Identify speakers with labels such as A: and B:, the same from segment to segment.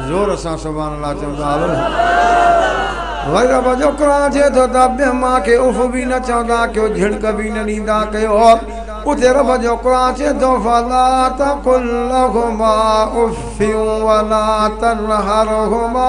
A: زور سان سبحان الله چئو ته آلو وائي رب جو قرآن چئي ٿو ته ٻين مان کي اف به نه چوندا ڪيو جهڻڪ به نه ڏيندا ڪيو اتي رب جو قرآن چئي ٿو فلا تقل لهما اف ولا تنهرهما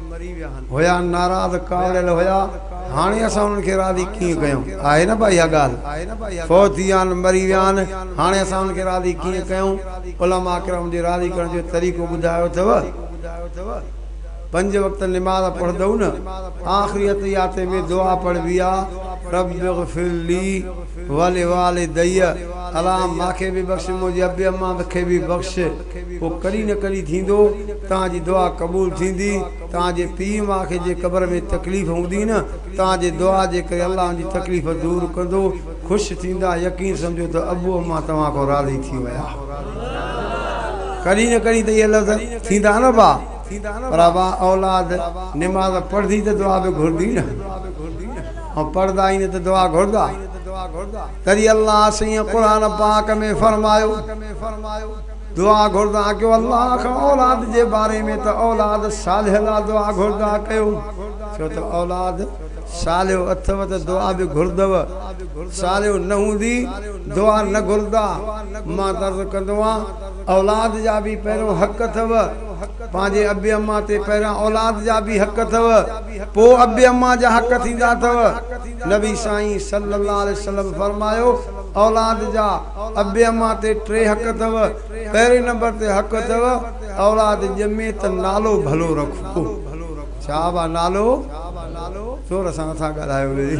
A: هيا ناراض ڪاوڙيل هيا هاڻي اسان انهن کي راضي ڪيئن ڪيون آهي نه بئا اها ڳالهه فوت ٿي ويا آهن مري ويا آهن هاڻي اسان انهن کي راضي ڪيئن ڪيون علماء ڪرام جي راضي ڪرڻ جو طريقو ٻڌايو اٿئو پنج وقت نماز پڙهندئو نه آخري اتحيات ۾ دعا پڙهبي آ رب اغفر لي ولوالدي الله ماکي به بخش منهنجي ابي امان کي به بخش پوء ڪڏهن نه ڪڏهن ٿيندو، توهان جي دعا قبول ٿيندي، توهان جي پيء ماء کي جي قبر ۾ تڪليف هوندي نه، توهان جي دعا جي ڪري الله ان جي تڪليف دور ڪندو، خوش ٿيندا، يقين سمجهو ته ابو امان توهان کان راضي ٿي ويا. ڪڏهن نه ڪڏهن ته اهي لفظ ٿيندا نه ابا، پر ابا اولاد نماز پڙهندي ته دعا به گهرندي نه، ۽ پڙهندا ئي نه ته دعا گهردا. تڏهن الله سيئن قرآن پاڪ ۾ فرمايو، دعا گهردا ڪيو الله کان اولاد جي باري ۾ ته اولاد صالح لاء دعا گهردا ڪيو ڇو ته اولاد صالح اٿئو ته دعا به گهردئو صالح نه هوندي دعا نه گهردا مان ته عرض ڪندو آهيان اولاد جا به پهريون حق اٿئو پنهنجي ابي امان تي پهريان اولاد جا به حق اٿئو پوء ابي امان جا حق ٿيندا اٿئو. نبي سائين صلي الله عليه وسلم فرمايو، اولاد جا ابي امان تي ٽي حق اٿو، پهرين نمبر تي حق اٿو اولاد ڄمي ته نالو ڀلو رکو. ڇا ابا نالو زور سان نٿا ڳالهايو لي.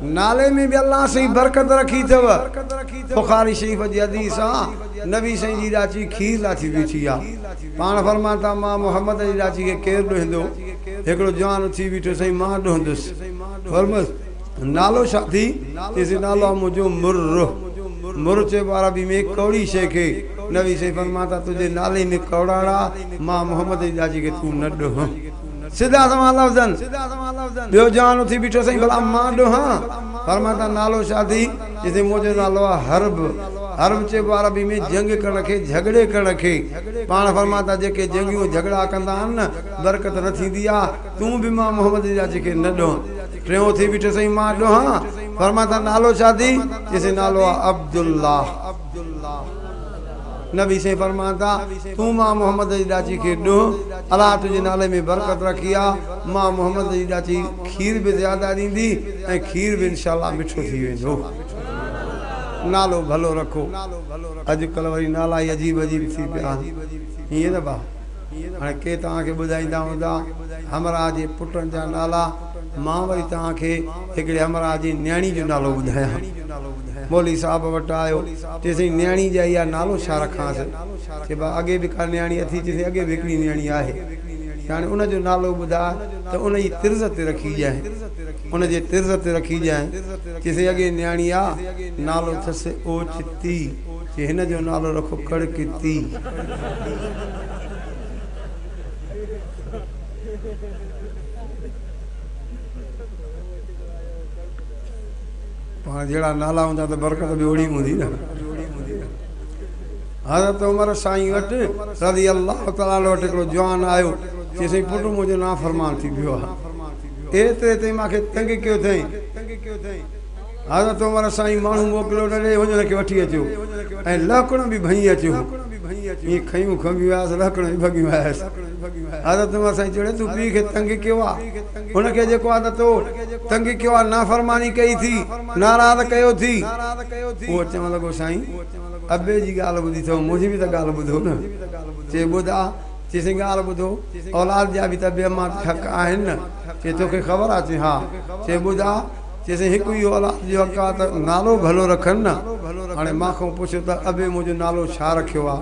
A: نالي ۾ به الله سائين برڪت رکي اٿو. بخاري شريف جي حديث آ نبي سائين جي ڏاچي کير لاٿي بيٺي آ. پاڻ فرمان ٿا، مان محمد جي ڏاچي کي ڪير ڏوهيندو؟ هڪڙو جوان اٿي بيٺو، سائين مان ڏوهندس. فرمس، نالو ڇا اٿئي؟ چيسي، نالو آهي منهنجو مره. مره چئبو عربي ۾ ڪؤڙي شيء کي. نبي سائين فرمان ٿا، تنهنجي نالي ۾ ڪؤڙاڻ آ، مان محمد جي ڏاچي کي تون نه ڏوهه. سڌا سنوان لفظن. ٻيو جوان اٿي بيٺو، سائين ڀلا مان ڏوهان؟ فرمان ٿا، نالو ڇا اٿئي؟ جتي موجه نالو آهي حرب، حرب چئبو آهي عربي ۾ جنگ ڪرڻ کي، جهڳڙي ڪرڻ کي. پاڻ فرمائن ٿا جيڪي جنگيون جهڳڙا ڪندا آهن نه برڪت نه ٿيندي آهي، تون به مان محمد جا جيڪي نه ڏونهن. ٽيون ٿي بيٺس ۽ مان ڏونهان؟ فرمائن ٿا نالو ڇا اٿئي؟ چئسي نالو آهي عبدالله. نبي سائين فرمان ٿا، تون مان محمد جي ڏاچي کي ڏنهن، الله تنهنجي نالي ۾ برڪت رکي آ، مان محمد جي ڏاچي کير به زياده ڏيندي ۽ کير به انشاء الله مٺو ٿي ويندو. نالو ڀلو رکو. اڄ ڪلهه وري نالا ئي عجيب عجيب ٿي پيا آهن. ائين نه ڀا؟ هاڻي ڪي توهان کي ٻڌائيندا هوندا همراهه جي پٽن جا نالا. مان وري توهان کي هڪڙي همراهه جي نياڻي جو نالو ٻڌايان. مولوي صاحب وٽ آيو، چي سائين نياڻي جي ايا نالو ڇا رکانس؟ چي با اڳي به ڪا نياڻي اٿي؟ چي سائين اڳي به هڪڙي نياڻي آهي. چي هاڻي ان جو نالو ٻڌاء ته ان جي طرز تي رکي ڄائين. ان جي طرز تي رکي ڄائين. چي سائين اڳي نياڻي آ، نالو اٿس اوچتي. چي هن جو نالو رکو ڪڙڪتي. پاڻ جهڙا نالا هوندا ته برڪت به اوڙي هوندي نه حضرت عمر سائين وٽ رضي الله تعالٰي عنہ وٽ هڪڙو جوان آيو چي سائين پٽ منهنجو نافرمان ٿي پيو آهي ايتري تائين ماکي تنگ ڪيو اٿئي حضرت عمر سائين ماڻهو موڪليو ته ڏي وڃ هن کي وٺي اچو ۽ لهڪڻ به ڀڃي اچ هو ائين کنيون کنڀيون آيس لهڪڻ به ڀڳيون آيس حضرت عمر سائين چيو تون پيء کي تنگ ڪيو آ هن کي جيڪو آ تو تنگ ڪيو آ نافرماني ڪئي ٿي ناراض ڪيو ٿي هو چوڻ لڳو سائين ابي جي ڳالهه ٻڌي اٿو منهنجي به ته ڳالهه ٻڌو نه چي ٻڌ آ چي سائين ڳالهه ٻڌو اولاد جا به ته ابي امان تي حق آهن نه چي توکي خبر آ چي ها چي ٻڌ آ چيسين هڪ اهو اولاد جو اڪا ته نالو ڀلو رکن نه. هاڻي مان کان پڇ ته ابي منهنجو نالو ڇا رکيو آ؟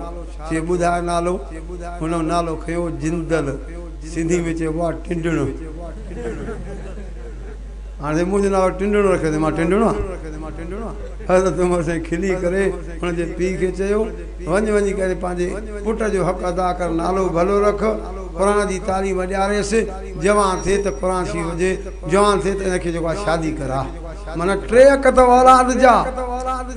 A: چي ٻڌاء نالو؟ هن نالو کنيو جندل، سنڌي ۾ چئبو آ ٽنڊڻ. هاڻي سائين منهنجو نالو ٽنڊڻ رکيو اٿئي مان ٽنڊڻ آ؟ حضرت عمر سائين کلي ڪري هن جي پيء کي چيو وڃ وڃي ڪري پنهنجي پٽ جو حق ادا ڪر نالو ڀلو رک قرآن جي تعليم ڏياريس. جوان ٿي ته قرآن شريف هجي جوان ٿي ته ان کي جيڪو آهي شادي ڪراء معنيٰ ٽي اکت وارا اڌ جا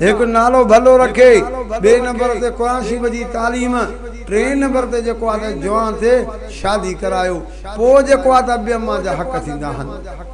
A: هڪ نالو ڀلو رکي ٻئي نمبر تي قرآن شريف جي تعليم ٽئين نمبر تي جيڪو آهي ته جوان ٿي شادي ڪرايو پوء جيڪو آهي ته ابي اما جا حق ٿيندا آهن.